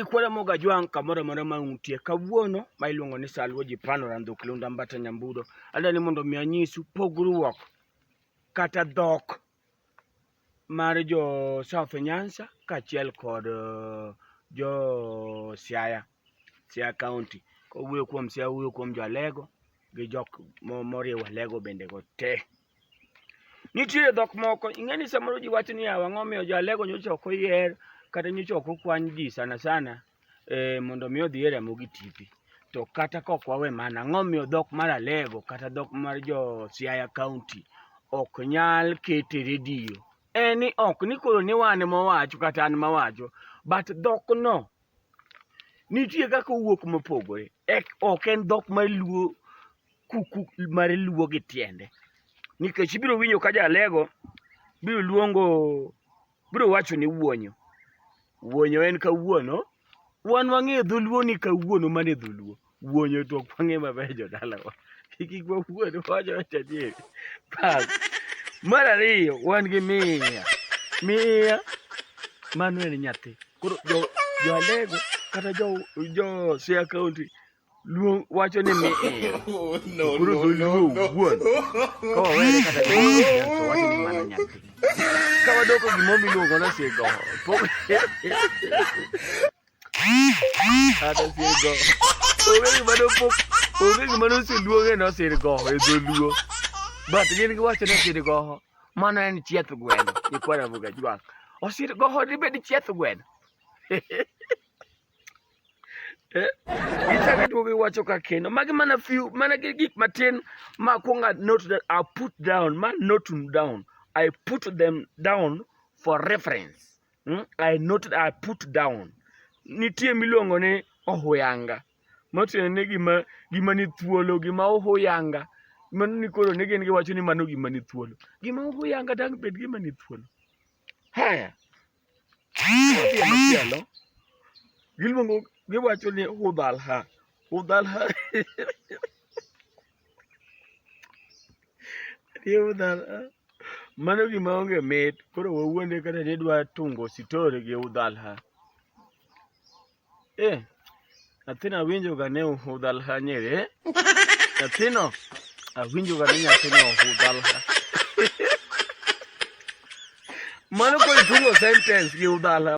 ikwere moga jwang' kamoro amora ma untie kawuono ma iluongo ni Salwo ji pano randhuk lunda mbata nyambudo adwa ni mondo mi anyisu pogruok kata dhok mar jo South Nyanza kaachiel kod eh, jo Siaya Siaya County kowuoyo kuom Siaya wuoyo kuom jo Alego gi jok moriwo Alego bende go te Nitie dhok moko, ing'eni samoro ji wacho niya, ang'o momiyo jo Alego nyocha ok oyier kata nyocha ok okwan ji sana sana eh, mondo mi odhi e remo gi tipi. To kata kok wawe mana, ang'o momiyo dhok mar Alego kata dhok mar jo Siaya County ok nyal ket e redio? En ni ok ni koro ni wan mowacho kata an mawacho, but dhokno nitie kaka owuok mopogore ok en dhok mar luo kuku mar luo gi tiende nikech ibiro winjo ka jalego biro luongo biro wacho ni wuonyo wuonyo en kawuono wan wang'eyo dholuo ni kawuono mane dholuo Wuonyo to ok wang'e maber jodalawa. Kik wawuond wawacho wacho adieri. Bas. Mar ariyo wan gi miya. Miya mano en nyathi. Koro jo jo Alego kata jo jo Siaya County luong wacho ni miya. no, Koro no, dholuo no, no. wuon. Ka wawere kata gi miya to wacho ni mano nyathi. Ka wadoko gimoro miluongo ni sigo. Pok Kata sirgo. Onge gima nopok, onge gima noseluonge ni osirgoho e dholuo. But gin giwacho ni osirgoho, mano en chieth gweno, nyikwa Ramogi Ajwang'. Osirgoho dibed chieth gweno? Eh, Gichako duogo giwacho ka kendo. Magi mana few, mana gi- gik matin ma akwongo a note that I put down, ma note down. I put them down for reference. Hmm? I noted, I put down. Nitie miluongo ni ohuyanga. Matiende ni gima gima ni thuolo, gima ohuyanga. Mano ni koro ne gin giwacho ni mano gima ni thuolo. Gima ohuyanga dang' bed gima ni thuolo. Haya. Machielo. Giluongo giwacho ni hudhalha. Hudhalha. Ariembo dala. Mano gima onge mit. Koro wawuonde kata ni idwa tungo story gi udhalha. Eh, nyathino awinjoga ni udhalha nyeri. Eh? Nyathino awinjoga ni nyathino udhalha. Mano koro itungo sentence gi udhalha.